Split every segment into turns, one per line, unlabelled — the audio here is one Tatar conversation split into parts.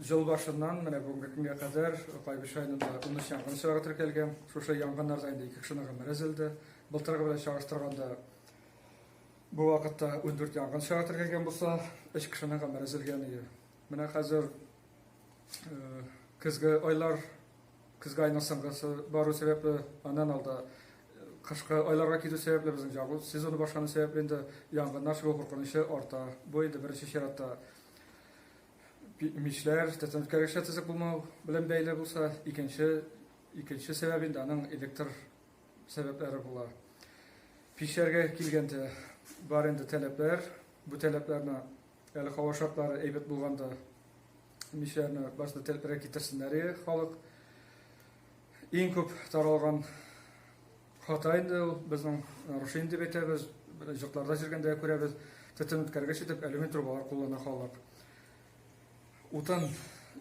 Ел башыннан менә бүгенге көнгә кадәр Кайбыч районында 13 янгын очрагы теркәлгән. Шушы янгыннарда инде ике кешенең гомере өзелде. Былтыргы белән чагыштырганда бу вакытта 14 янгын очрагы теркәлгән булса, 3 кешенең гомере өзелгән иде. Менә хәзер э, көзге айлар, көзге айның соңгысы бару сәбәпле, аннан алда э, кышкы айларга китү сәбәпле безнең ягу сезоны башлану сәбәпле инде янгыннар чыгу куркынычы арта. Бу инде беренче чиратта Мишләр, стационар решетасы булмау белән бәйле булса, икенче икенче сәбәп инде аның электр сәбәпләре була. Пишләргә килгәндә бар инде таләпләр, бу таләпләрне әле һава шартлары әйбәт булганда мишләрне башта тәлпрәк китерсеннәр халык. Иң күп таралган Хата инде ул безнең рушин дип әйтәбез, җыртларда җиргәндә күрәбез. Төтен үткәргеч итеп алюмин трубалар куллана халык. Утын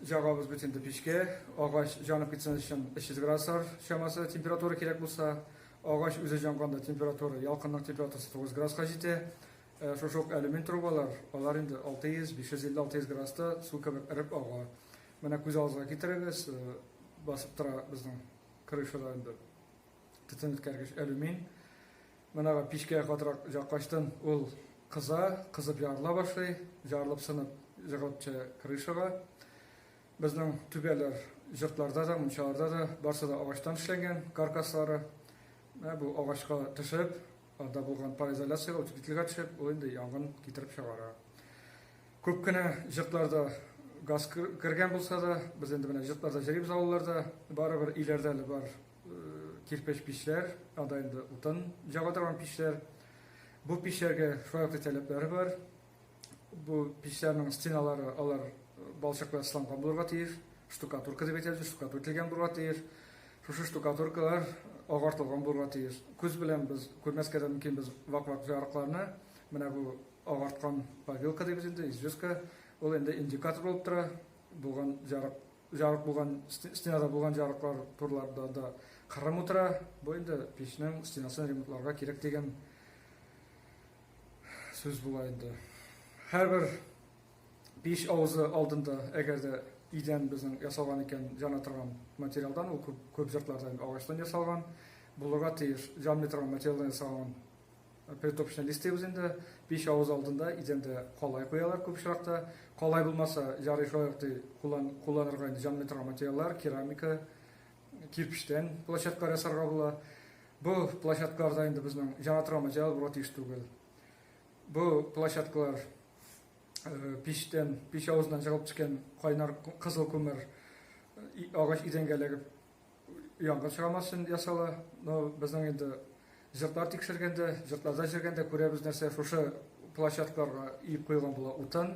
җагабыз бит инде печкә, агач җанып китсен өчен 300 градуслар чамасы температура кирәк булса, агач үзе җанганда температура, ялкынның температурасы 9 градуска җитә. Э, шушы ук алюмин трубалар, алар инде 600, 550-600 градуста су кебек эреп ага. Менә күз алдыгызга китерегез, э, басып тора безнең крышада инде Төтен үткәргеч алюмин. Менә пичкә катырак яккачтын ул кыза, кызып ярыла башлый, ярылып сынып җыгылып крышага. Безнең түбәләр йортларда да, мунчаларда да барсы да агачтан эшләнгән каркаслары. Менә бу агачка төшеп, анда булган пароизоляциягә, утеплительгә төшеп, ул инде янгын китереп чыгара. Күп кенә җыртларда газ кергән булса да, без инде менә җыртларда җырыйбыз авылларда, барыбер иләрдә әле бар кирпеч пичләр, анда инде утын җаба торган пичләр. Бу пичләргә шулай ук таләпләре бар. Бу пичләрнең стеналары алар балчык белән сыланган булырга тиеш, штукатурка дип әйтәбез, штукатур килгән булырга тиеш. Шушы штукатуркалар агартылган булырга тиеш. Күз белән без күрмәскә дә мөмкин без вак-вак ярыкларны, менә бу Агарткан повилка дибез инде, известка. Ул инде индикатор булып тора. Булган жарык, жарык булган, стенада булган жарыклар турларда да кырым утыра. Бу инде печнең стенасын ремонтларга кирәк дигән сүз була инде. Һәрбер пич авызы алдында, әгәр дә идән безнең ясалган икән, җана торган материалдан, ул күп, күп җыртларда агачтан ясалган, булырга тиеш, җанмый торган материалдан ясалган Притопчаны дистәбез инде. Пич авыз алдында идәндә калай куялар күп очракта. Калай булмаса, ярый шулай ук ди, куллан, кулланырга инде җан метрау материаллар, керамика, кирпечтән площадкалар ясарга була. Бу площадкаларда инде безнең җан атырган материал булырга тиеш түгел. Бу площадкалар э, пичтән, пич авызыннан чыгып төшкән кайнар кызыл күмер агач идәнгә эләгеп янгын чыгармас өчен ясала. Но безнең инде җыртлар тикшергәндә, җыртларда җөргәндә күрәбез нәрсә, шушы площадкаларга иеп куелган була утын.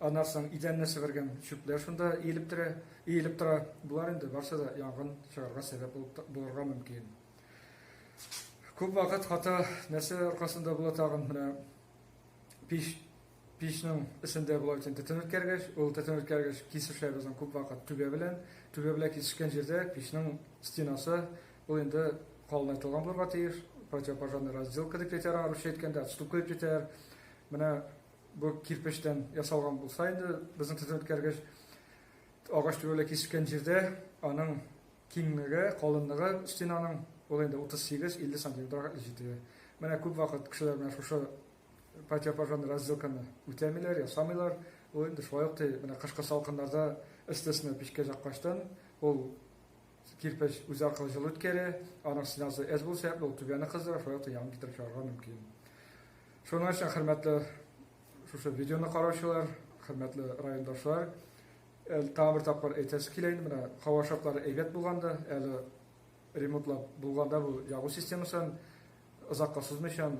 Аннан соң идәнне себергән чүпләр шунда иелеп тора, иелеп тора. Болар инде барсы да янгын чыгарга сәбәп булырга мөмкин. Күп вакыт хата нәрсә аркасында була тагын менә пич Пичнең эчендә болай өчен төтен үткәргеч, ул төтен үткәргеч кисешләр безнең күп вакыт түбә белән, түбә белән кисешкән җирдә пичнең стенасы ул инде калынайтылган булырга тиеш, противопожарный разделка дип әйтәр аңа русча әйткәндә, отступка дип әйтәр. Менә бу кирпечтән ясалган булса инде безнең төтен үткәргеч агач түбә белән кисешкән җирдә аның киңлеге, калынлыгы стенаның ул инде 38-50 сантиметрга җитә. Менә күп вакыт кешеләр менә шушы Патя пожан раззылканы үтәмиләр, ясамыйлар. Ул инде шулай ук менә кышкы салкыннарда эстесне печкә яккачтан ул кирпеч үзе аркылы җылы үткәрә, аның стенасы әз булу сәбәпле ул түбәне кыздыра, шулай ук яңгыр китереп чыгарга мөмкин. Шуның өчен хөрмәтле шушы видеоны караучылар, хөрмәтле райондашлар, тагын бер тапкыр әйтәсе килә инде менә һава шартлары әйбәт булганда, әле ремонтлап булганда бу ягу системасын озакка сузмыйчан